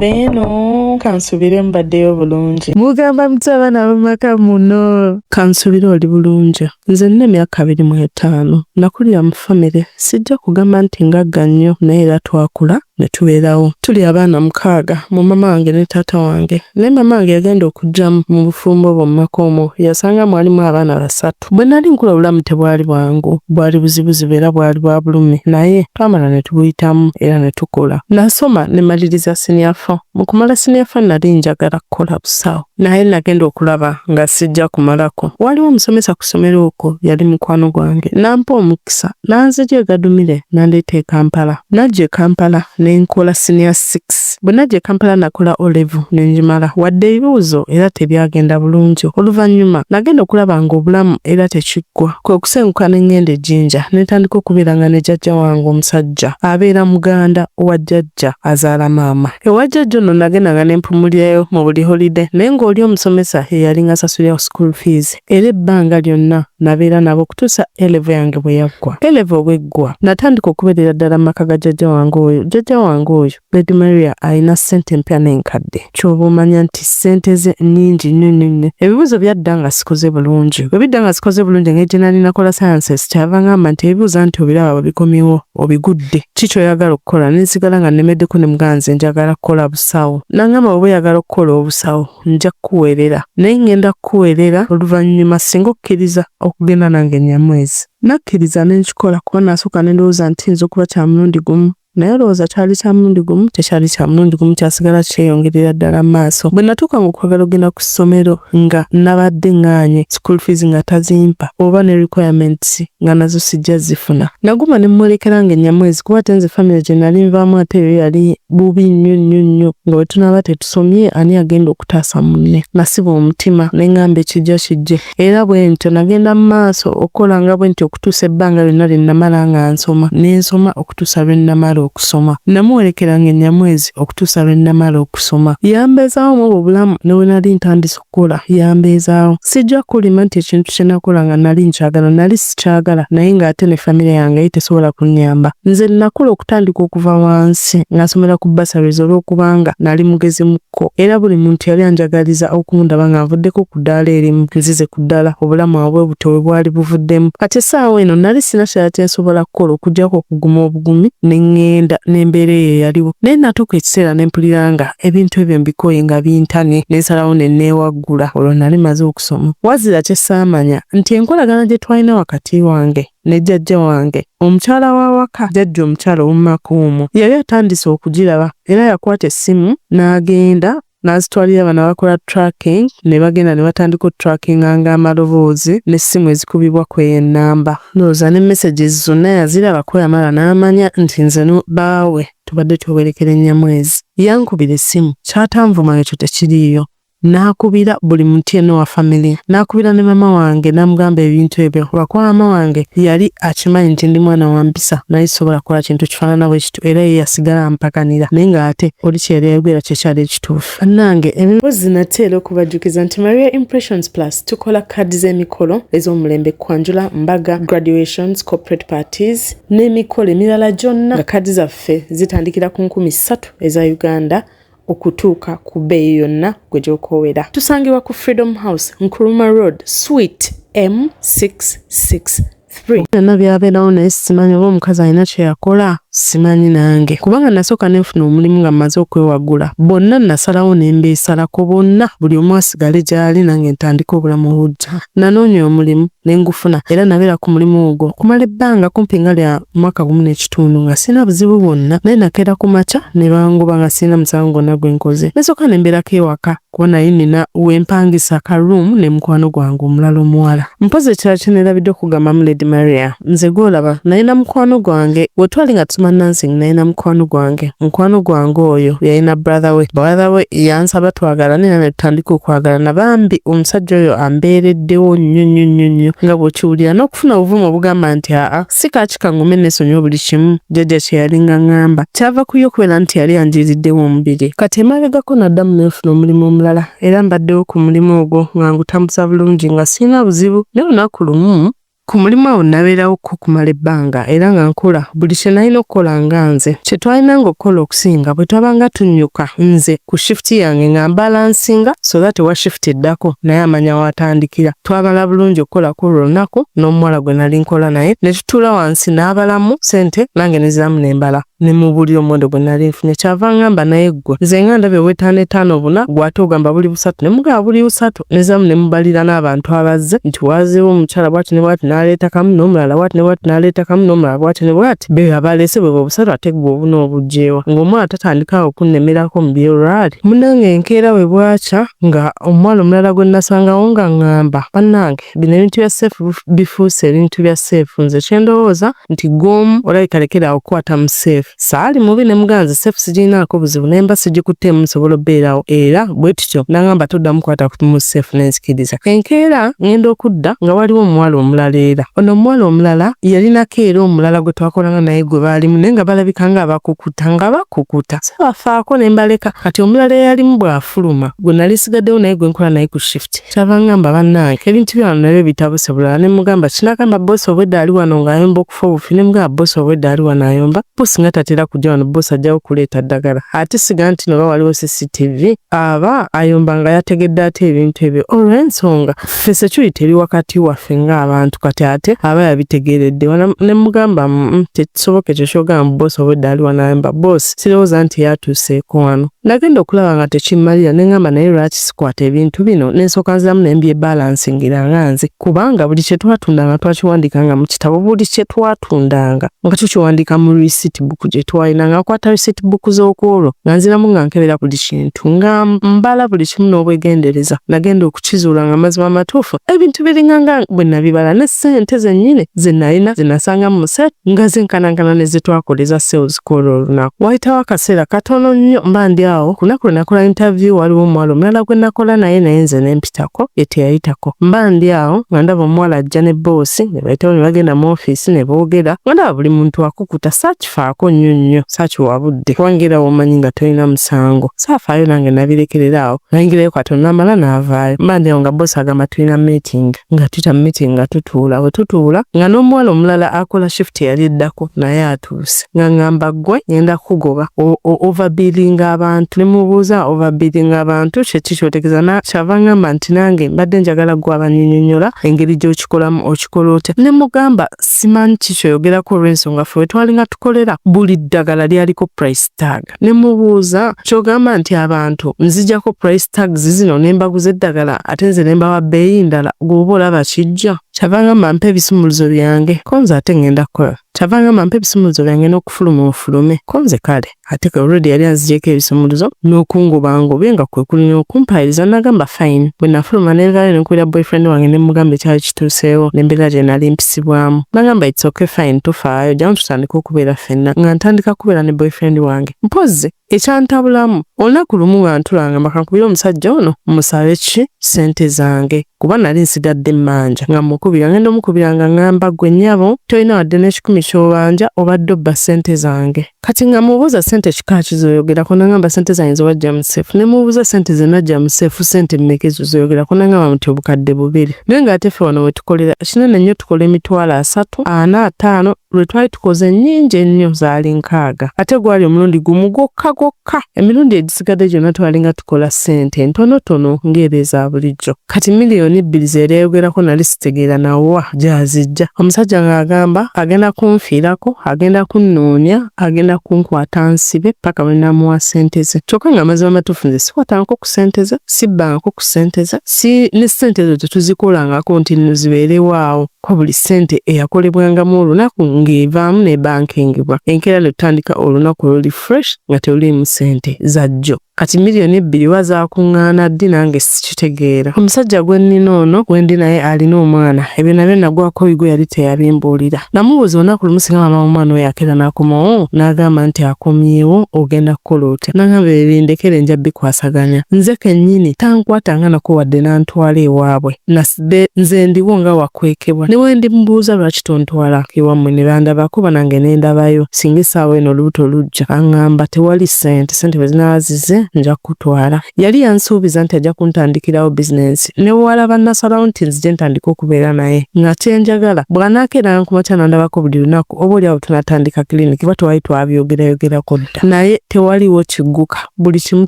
abeeno kansubire mbaddeyo bulungi mugamba muti abaana bamaka muno kansubire oli bulungi nze nina emyaka abiri mu etaano nakulira mu famire sijja kugamba nti ngagga nnyo naye era twakula ne tubeerawo tuli abaana mukaaga mu mama wange ne taata wange naye mama wange yagenda okujja mu bufumbo bwo mu maka omwo yasanga mwalimu abaana basatu Bwe nali nkula obulamu tebwali bwangu, bwali buzibuzibu era bwali bwa bulumi naye twamala ne tubuyitamu era ne tukula. Nasoma ne maliriza siniya fo. Mu kumala siniya fo nali njagala kukola busawo naye nagenda okulaba nga sijja kumalako. Waaliwo omusomesa ku ssomero okwo yali mukwano gwange n'ampa omukisa Nanzigye e Gadumire n'andeeta e Kampala. Najja e Kampala ne nkola Siniya Sikisi. Bwe najja e Kampala nakola O-Levo ne ngimala wadde ebibuuzo era tebyagenda bulungi. Oluvannyuma nagenda okulaba ng'obulamu era tekiggwa. Kwe kusenguka ne ng'enda e Jinja ne ntandika okubeeranga ne jjajja wange omusajja abeera muganda wa jjajja azaala maama. Ewa jjajja ono nagendanga ne mpumulirayo mu buli holide naye ng'oli omusomesa ye yalinga asasulira ku school fees. era ebbanga lyonna nabeera nabo okutuusa A-level yange bwe yaggwa. A-level bw'eggwa, natandika okubeerera ddala mu maka ga jjajja wange oyo. Jjajja wange oyo, Lady Maria, alina ssente empya n'enkadde. Ky'oba omanya nti ssente ze nnyingi nnyo nnyo nnyo. Ebibuuzo byadda nga sikoze bulungi. Bwe bidda nga sikoze bulungi, engeri gye nali nakola sciences, kyava ng'amba nti ebibuuza nti obiraba bwe bikomyewo obigudde, ki ky'oyagala okukola? Ne nsigala nga nnemeddeko ne mugamba nze njagala kukola busawo. N'angamba bw'oba oyagala okukola obusawo, nja kukuweerera, naye ŋŋenda kukuweerera oluvannyuma singa okkiriza okugenda nange Nyamwezi. Nakkiriza ne nkikola kuba nasooka ne ndowooza nti kiyinza okuba kya mulundi gumu. Naye olowooza kyali kya mulundi gumu? Tekyali kya mulundi gumu, kyasigala kyeyongerera ddala mu maaso. Bwe natuukanga okwagala okugenda ku ssomero nga nabadde ŋŋaanye, school fees nga tazimpa oba ne requirements nga nazo sijja zifuna. Naguma ne mmwolekera nge Nyamwezi kuba ate nze famire gye nali nvaamu ate yo yali bubi nnyo nnyo nnyo nga bwe tunaaba tetusobola. tusomye ani agenda okutaasa munne. Nasiba omutima ne ngamba ekijja kijje era bwe ntyo nagenda mu maaso okukola nga bwe ntyo okutuusa ebbanga lyonna lye namala nga nsoma ne nsoma okutuusa lwe namala okusoma. Namuwerekeranga e Nyamwezi okutuusa lwe namala okusoma. Yambeezaawo mw'obwo obulamu ne bwe nali ntandise okukula yambeezaawo. Sijja kukulima nti ekintu kye nakola nga nali nkyagala nali sikyagala naye ng'ate ne famire yange yali tesobola kunnyamba. Nze nakula okutandika okuva wansi nga nsomera ku bursaries olw'okubanga nali mugezi mu kko era buli muntu yali anjagaliza okundaba nga nvuddeko ku ddaala erimu nzize ku ddala obulamu awo bwe butyo we bwali buvuddemu. Kati essaawa eno nali sirina kirala kye nsobola kukola okuggyako okuguma obugumi ne ŋŋenda n'embeera eyo eyaliwo naye natuuka ekiseera ne mpulira nga ebintu ebyo mbikooye nga bintane nensalawo ne neewaggula olwo nali maze okusoma wazira kye saamanya nti enkolagana gye twalina wakati wange ne jjajja wange omukyala w'awaka jjajja omukyala ow'omumaka omwo yali atandise okugiraba era yakwata essimu n'agenda n'azitwalira bano abakola tracking ne bagenda ne batandika otutrakinga nga amaloboozi n'essimu ezikubibwa ku eyo ennamba ndowooza ne messages zonna yaziraba kweyamalwa n'amanya nti nze baawe tubadde twewerekera enyamwezi yankubira essimu kyatanvuma ekyo tekiriiyo n'akubira buli muntu yenna wa family n'akubira ne mama wange n'amugamba ebintu ebyo lwakuba mama wange yali akimanyi nti ndi mwana wa mpisa naye sobola kukola kintu kifaanana bwe kityo era ye yasigala ampakanira naye ng'ate oli kyeyayogera kyekyali ekituufu bannange emibozi nate era okubajjukiza nti maria impressions plus tukola kaadi z'emikolo ez'omulembe kwanjula mbaga graduations corporate parties n'emikolo emirala gyonna nga kaadi zaffe zitandikira ku nkumi ssatu eza uganda okutuuka ku bbeeyi yonna gwe gy'okoowera tusangibwa ku freedom house nkuruma road sweet m66 byonna byabeerawo naye simanyi oba omukazi alina kyeyakola simanyi nange kubanga nasooka nenfuna omulimu nga mmaze okwewagula bonna nasalawo nembeesalako bonna buli omu asigale gyali nange ntandika obulamu obujja nanoonya omulimu ne ngufuna era nabeera ku mulimu ogwo okumala ebbanga kumpi nga lya mwaka gumu n'ekitundu nga sirina buzibu bwonna naye nakeera ku makya ne bangoba nga sirina musango gwonna gwe nkoze nasooka ne mbeerako ewaka kuba naye nina we mpangisa ka ruumu ne mukwano gwange omulala omuwala mpozi ekirala kye neerabidde okugambamu lady maria nze gw'olaba naye na mukwano gwange we twali nga tuma nansing naye na mukwano gwange Mukwano gwange oyo yalina brother we, brother we yansaba twagalane era netutandika okwagalana. Bambi omusajja oyo ambeereddewo nnyo nnyo nnyo nnyo nga bw'okiwulira n'okufuna obuvumu obugamba nti aa si kaaki kangume nesonyiwa buli kimu jjajja kye yalinga ngamba. Kyava ku ye okubeera nti yali anjiiriddewo omubiri. Kati emabegako naddamu nenfuna omulimu omulala era mbaddewo ku mulimu ogwo nga ngutambuza bulungi nga sirina buzibu. Naye olunaku lumu. Ku mulimu awo nabeerawo ko kumala ebbanga era nga nkola buli kye nalina okukola nga nze. Kye twalinanga okukola okusinga bwe twabanga tunnyuka nze ku shifuti yange nga mbalansinga so that ewa shifuti eddako naye amanya w'atandikira. Twamala bulungi okukola kw'olwo olunaku n'omuwala gwe nali nkola naye ne tutuula wansi n'abalamu ssente nange ne nziramu ne mbala. ne mu buli omuwendo gwe nali nfunye kyava ngamba naye ggwe nze nga ndabye ow'ettaano ettaano buna gw'ate ogamba buli busatu ne mugamba buli busatu nezamu ne mubalira n'abantu abazze nti waazeewo omukyala bwati ne bwati n'aleeta kamu n'omulala bwati ne bwati n'aleeta kamu n'omulala bwati ne bwati be abaleese bwe bwe busatu ate ggwe obuna obugyewa ng'omwana tatandikawo okunnemerako mu by'olwali munange enkeera bwe bwakya nga omwana omulala gwe nasangawo nga ngamba bannange bino ebintu bya seefu bifuuse ebintu bya seefu nze kyendowooza nti gomu olabika lekera awo okukwata mu seefu saali mubi ne muganzi seefu sigirinaako buzibu naye mba sigikuttemu nsobola obbeerawo era bwe tutyo nangamba toddamu kwata mu seefu nenzikiriza enkeera ngenda okudda nga waliwo omuwala omulala era ono omuwala omulala yalinako era omulala gwe twakolanga naye gwe baalimu naye nga balabika nga abakukuta nga bakukuta sabafaako ne mbaleka kati omulala eyalimu bw'afuluma gwe nali sigaddewo naye gwe nkola naye ku shifuti kyabangamba bannange ebintu byano nabyo bitabuse bulala ne mugamba kinagamba bosi obwedda ali wano ng'ayomba okufa obufi ne mugamba bosi obwedda ali wano ayomba bosi nga tatera kujja wano bosi ajjawo kuleeta ddagala ate siga nti noba waliwo cctv aba ayomba nga yategedde ate ebintu ebyo olw'ensonga ffe security eri wakati waffe ng'abantu kati ate aba yabitegeeredde ne mugamba mm, mm, tekisoboka ekyo kyogamba bosi obwedda ali wano ayomba bosi sirowooza nti yatuuseeko wano. Nagenda okulaba nga tekimmalira ne ngamba naye lwaki sikwata ebintu bino ne nsooka nziramu ne mbyebalansingira nga nze kubanga buli kye twatundanga twakiwandiikanga mu kitabo buli kye twatundanga nga tukiwandiika mu receipt book gye twalina nga nkwata receipt book z'okwolwo nga nziramu nga nkebera buli kintu nga mbala buli kimu n'obwegendereza nagenda okukizuula nga amazima amatuufu ebintu biringanga bwe nabibala ne ssente zennyini ze nalina ze nasanga mu set nga zenkanankana ne ze twakoleza sales ku olwo olunaku. Wayitawo akaseera katono nnyo mba ndi awo, ku lunaku lwe nakola intaviyu waliwo omuwala omulala gwe nakola naye naye nze ne mpitako, ye teyayitako. Mba ndi awo nga ndaba omuwala ajja ne bboosi ne bayitawo ne bagenda mu ofiisi ne boogera, nga ndaba buli muntu akukuta, saakifaako nnyo nnyo, saakiwa budde kubanga era womanyi nga tolina musango, saafaayo nange nabirekerera awo, nayingirayo katono namala navaayo. Mba ndi awo nga bboosi agamba tulina miitingi. nga tuta meeting nga tutuula we tutuula nga n'omuwala omulala akola shift yali eddako naye atuuse nga ngamba gwe ngenda kukugoba overbillinga abantu ne mubuuza overbillinga abantu kyeki kyotegeza na kyava ngamba nti nange mbadde njagala gwe abanyinyonyola engeri gy'okikolamu okikola otya ne mugamba simanyi kikyoyogerako olw'ensonga fe wetwalinga tukolera buli ddagala lyaliko price tag ne mubuuza kyogamba nti abantu nzijako price tags zino ne mbaguza eddagala ate nze ne mbawa bbeeyi ndala gw'oba olaba kijja kyava ngamba mpa ebisumuluzo byange ko nze ate ngenda kukola kyava ngamba mpa ebisumuluzo byange n'okufuluma ofulume ko nze kale ate ke olredi yali anzigyeko ebisumuluzo n'okungobangobe nga kwe kulina okumpayiriza nagamba fine bwe nafuluma ne nvaayo ne nkubira boyfriend wange ne mugamba ekyali kituuseewo n'embeera gye nali mpisibwamu. Nagamba it's okay fine tofaayo jjamu tutandike okubeera ffenna nga ntandika kubeera ne boyfriend wange. Mpozzi ekyantabulamu olunaku lumu nga ntulanga makankubira omusajja ono musabe ki ssente zange kuba nali nsigadde mmanja nga mukubira ngenda omukubira nga ngamba gwe nnyabo tolina wadde n'ekikumi ky'obanja obadde obba ssente zange. Kati nga mubuuza sente kika ki zoyogerako nangamba sente zange zewajja mu seefu ne mubuuza sente zenajja mu seefu sente mmeka ezo zoyogerako nangamba muti obukadde bubiri naye nga ate ffe wano we tukolera kinene nnyo tukola emitwalo asatu ana ataano lwe twali tukoze nnyingi ennyo zaali nkaaga ate gwali omulundi gumu gwokka gwokka emirundi egisigadde gyonna twalinga kola ssente ntonotono ng'ezo eza bulijjo. Kati miliyoni bbiri ze yali ayogerako nali sitegeera na wa gy'aziggya. Omusajja ng'agamba agenda kunfiirako, agenda kunnoonya, agenda kunkwata ansibe paka lwe naamuwa ssente ze. Kyokka ng'amazima amatuufu nze sikwatangako ku ssente ze, sibbangako ku ssente ze, si ne ssente ezo tetuzikolangako nti nno zibeerewo awo. Kuba buli ssente eyakolebwangamu olunaku ng'evaamu n'ebankingibwa, enkeera ne tutandika olunaku oluli fresh nga teruliimu ssente za jjo. Kati million ebbiri oba zakungaana ddi nange sikitegeera. Omusajja gwennina ono gwendi naye alina omwana ebyo nabyo nagwako oyigo yali teyabimbuulira. Namubuuza olunaku lumu singa maama womwana oyo akeera nakomawo nagamba nti akomyewo ogenda kukola otya nangamba ebyo bindekere nja bikwasaganya nze kennyini tankwata nga nako wadde nantwala ewaabwe. be nze ndiwo nga wakwekebwa ne wendi mubuuza lwaki tontwala iwamwe ne bandabako banange ne ndabayo singa essaawa eno olubuto lujja angamba tewali sente sente bwe zinaba zize nja kukutwala yali yansuubiza nti ajja kuntandikirawo bizinensi ne wala bannasalawo nti nzije ntandika okubeera naye nga kyenjagala bw'anaakeeranga ku makya nandabako buli lunaku oba oli awo tunatandika kiriniki kuba twali twabyogerayogera kudda naye tewaliwo kigguka buli kimu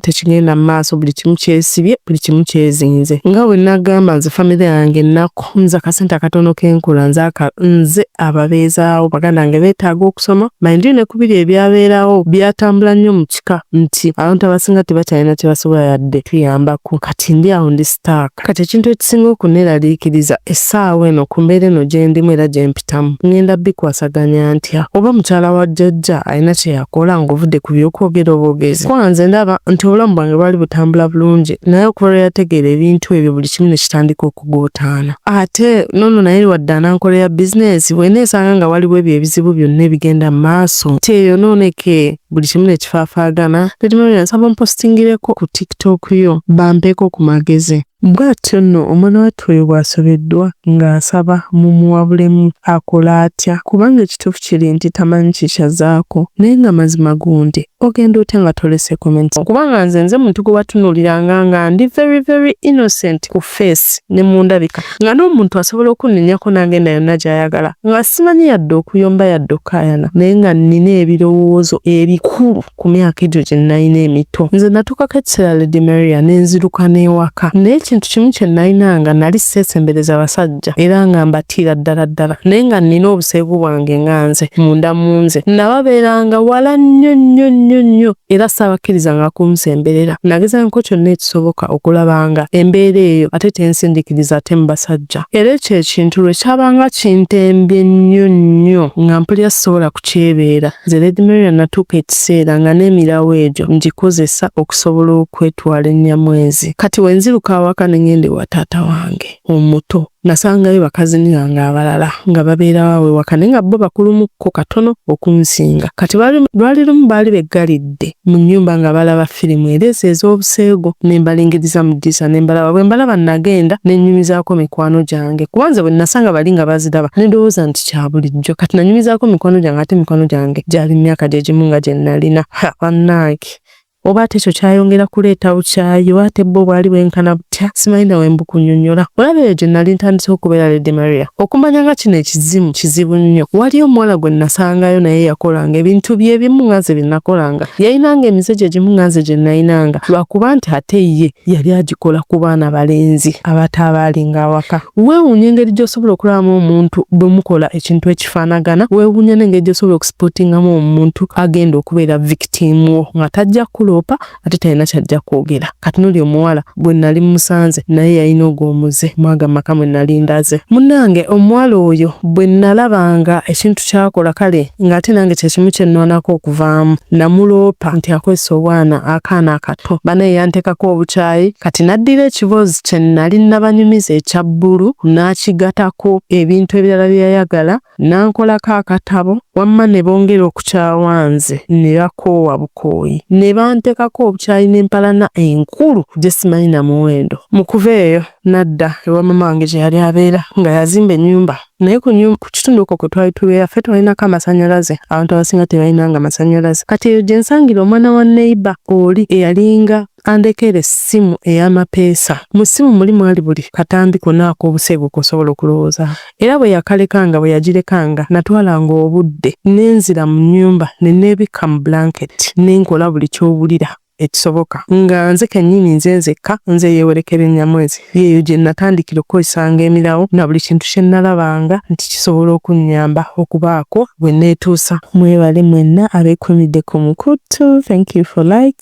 tekigenda mu maaso buli kimu kyesibye buli kimu kyezinze nga bwe nagamba nze famire yange ennaku nze akasente akatono kenkula nze nze ababeezaawo baganda bange beetaaga okusoma mayindio ne kubiri ebyabeerawo byatambula nnyo mu kika nti abantu abasinga tebakyalina kyebasobola yadde tuyambako kati ndi awo ndi staaka kati ekintu ekisinga okuneralikiriza essaawa eno ku mbeera eno gyendimu era gyempi bikutamu ngenda bikwasaganya ntya oba mukyala wa jjajja alina kyeyakola ngaovudde ku byokwogera obwogezi kuba nze ndaba nti obulamu bwange bwali butambula bulungi naye okuva lwe yategeera ebintu ebyo buli kimu ne kitandika okuguutaana ate nono naye liwadde anankolera bizinesi bwena esanga nga waliwo ebyo ebizibu byonna ebigenda mu maaso nti eyo nooneke buli kimu ne kifaafaagana tetimabira nsaba mpostingireko ku tiktok yo bampeko ku magezi Bw'atyo nno omwanawattu oyo bw'asobeddwa nga asaba mumuwabulemu akole atya kubanga ekituufu kiri nti tamanyi kiki azaako naye nga mazima gundi ogenda otya nga tolese comment kubanga nze nze muntu gwebatunuuliranga nga ndi very very innocent ku face ne mundabika nga n'omuntu asobola okunnenyako n'agenda yonna gy'ayagala nga simanyi yadde okuyomba yadde okukayana naye nga nnina ebirowoozo ebikulu. ku myaka egyo gye nnalina emito nze natukako ekiseera lady maria nenziruka n'ewaka naye ekintu kimu kye nalina nga nali seesembereza basajja era nga mbatiira ddala ddala naye nga nnina obuseegu bwange nga nze munda mu nze nababeeranga wala nnyo nnyo nnyo nnyo era saabakkirizanga kunsemberera nagezangako kyonna ekisoboka okulaba nga embeera eyo ate tensindikiriza ate mu basajja era ekyo ekintu lwe kyabanga kintembye nnyo nnyo nga mpulira sisobola kukyebeera Nze Redmerian natuuka ekiseera nga n'emirawo egyo ngikozesa okusobola okwetwala e Nyamwezi. Kati bwe nziruka awaka ne ngenda ewa taata wange omuto nasangayo bakazini bange abalala nga babeerawo aw'ewaka naye nga bo bakulumukko katono okunsinga. Kati lwali lumu baali beggalidde. abazadde mu nnyumba nga balaba firimu era ezo ez'obuseegu ne mbalingiriza mu ddirisa ne mbalaba. Bwe mbalaba nnagenda ne nnyumizaako mikwano gyange kuba nze bwe nnasanga bali nga baziraba ne ndowooza nti kya bulijjo. Kati nanyumizaako mikwano gyange ate mikwano gyange gyali mu myaka gye gimu nga gye nnalina. Ha bannange! Oba ate ekyo kyayongera kuleeta bukyayi oba ate bbo bwali bwenkana butya? ntya simanyi nawe mbukunyonyola olaba eyo gye nali ntandise okubeera lady maria okumanya nga kino ekizimu kizibu nnyo waliyo omuwala gwe nasangayo naye yakolanga ebintu byebimu nga nze bye nakolanga yayinanga emize gye gimu nga nze gye nayinanga lwakuba nti ate ye yali agikola ku baana balenzi abataabalinga awaka weewunya engeri gy'osobola okulabamu omuntu bwe mukola ekintu ekifaanagana weewunya n'engeri gy'osobola okusipotingamu omuntu agenda okubeera victim wo nga tajja kuloopa ate talina kyajja kwogera kati noli omuwala gwe nali musanze naye yalina ogwo omuze mwaga maka mwe nali ndaze munange omuwala oyo bwe nalabanga ekintu kyakola kale ng'ate nange kyekimu kyenwanako okuvaamu namuloopa nti akozesa obwana akaana akato banaye yantekako obukyayi kati naddira ekiboozi kye nali nabanyumiza ekya bbulu n'akigatako ebintu ebirala byeyayagala nankolako akatabo wamma ne bongera okukyawa nze ne bakoowa bukooyi ne bantekako obukyayi n'empalana enkulu gye simanyi na muwendo mu kuva eyo nadda ewa mama wange gye yali abeera nga yazimba ennyumba naye ku kitundu okwo kwe twali tubeera ffe twalinako amasannyalaze abantu abasinga tebalinanga masannyalaze kati eyo gye nsangira omwana wa neiba oli eyalinga Andekera essimu ey'amapeesa. Mu ssimu muli mwali buli katambi konna ak'obuseegu k'osobola okulowooza. Era bwe yakalekanga, bwe yagirekanga, nnatwalanga obudde ne nzira mu nnyumba ne nneebikka mu bulanketi ne nkola buli ky'owulira ekisoboka, nga nze kennyini nze nzekka, nze eyeewerekera ennyamwezi. Y'eyo gye nnatandikira okukozesanga emirawo na buli kintu kye nnalabanga nti kisobola okunnyamba okubaako we nneetuusa. Mwebale mwenna abeekuumidde ku mukutu. Thank you for like.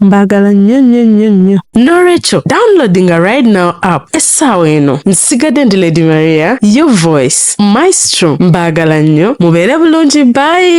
mbagala nnyo nnyo nnyo nnyo nolwekyo downloadinga right now app essaawa eno nsigadde ndi lady maria your voice maestro mbagala nnyo mubeere bulungi bayi